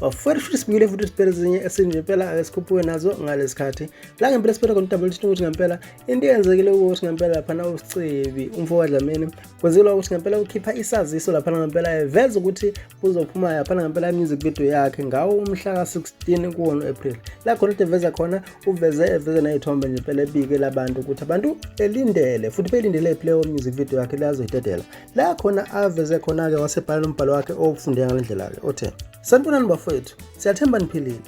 wafuthi futhi sibuyile futhi siphele ezinye esinje impela ake sikhuphuke nazo ngalesi khathi la ngempela siphele khona udabula ukuthi ukuthi ngempela into eyenzekile ukuthi ngempela laphana usicebi umfo wadlamini kwenzekelwa ukuthi ngempela ukhipha isaziso laphana ngempela eveza ukuthi uzophuma laphana ngempela i-music video yakhe ngawo umhla ka-16 kuwona u-april la khona ukuthi eveza khona uveze eveze nayithombe nje impela ebike labantu ukuthi abantu belindele futhi belindele iplayer music video yakhe lazoyidedela la khona aveze khona-ke wasebhala nombhalo wakhe owufunde ngale ndlela-ke othe sanibonani bafowethu siyathemba niphilile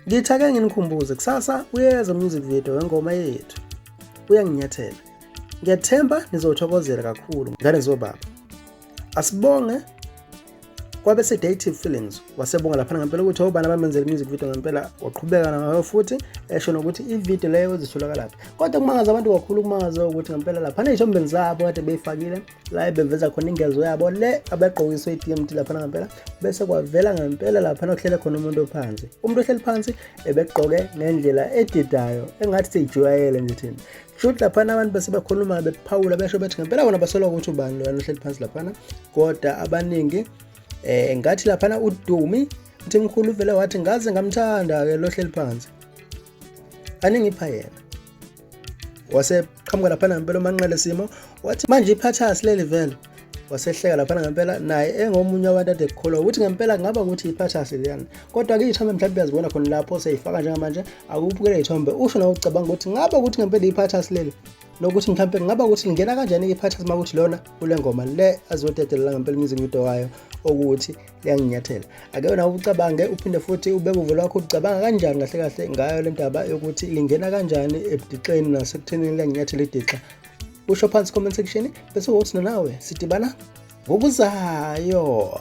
ngithi ake nginikhumbuze kusasa uyeza music video wengoma yethu uyanginyathela ngiyathemba nizothokozela kakhulu ngane zobaba asibonge kwabe sedative feelings wasebonga laphana ngempela ukuthi obani abamenzela music video ngempela waqhubeka nayo futhi esho nokuthi ivideo leyo zitholakala laphi kodwa kumangaza abantu kakhulu kumangaza ukuthi ngempela laphana ey'thombeni zabo kade beyifakile la beveza khona ingezo yabo le abegqokiswe i-dmt laphana ngempela bese kwavela ngempela laphana okuhlele khona umuntu ophansi umuntu ohleli phansi ebegqoke ngendlela edidayo engathi seyijwayele nje thina shuthi laphana abantu base bakhuluma bephawula besho bethi ngempela bona basola ukuthi ubani loyana ohleli phansi laphana kodwa abaningi um ngathi laphana udumi uthi mkhulu uvele wathi ngaze ngamthanda-ke lohleli phansi aningipha yena waseqhamuka laphana ngempela umanqele simo wathi manje iphathasi leli vele wasehleka laphana ngempela naye engomunye wabantu ade kukholwa ukuthi ngempela kungaba ukuthi iphathasi leyana kodwa-ke iy'thombe mhlawumbe uyazibona khona lapho seyifaka njengamanje akubukele iy'thombe usho nawe ucabanga ukuthi ngaba ukuthi ngempela iphathasi leli nokuthi mhlawumbe kungaba ukuthi lingena kanjani iphathasi uma ukuthi lona kule ngoma le azodedelela ngempela umusic video wayo okuthi liyanginyathela ake nawe ucabange uphinde futhi ubeke uvo lwakho ucabanga kanjani kahle kahle ngayo le ndaba yokuthi lingena kanjani ebudixeni nasekuthenini liyanginyathela idixa usho phansi comment section bese wothi nanawe sidibana ngokuzayo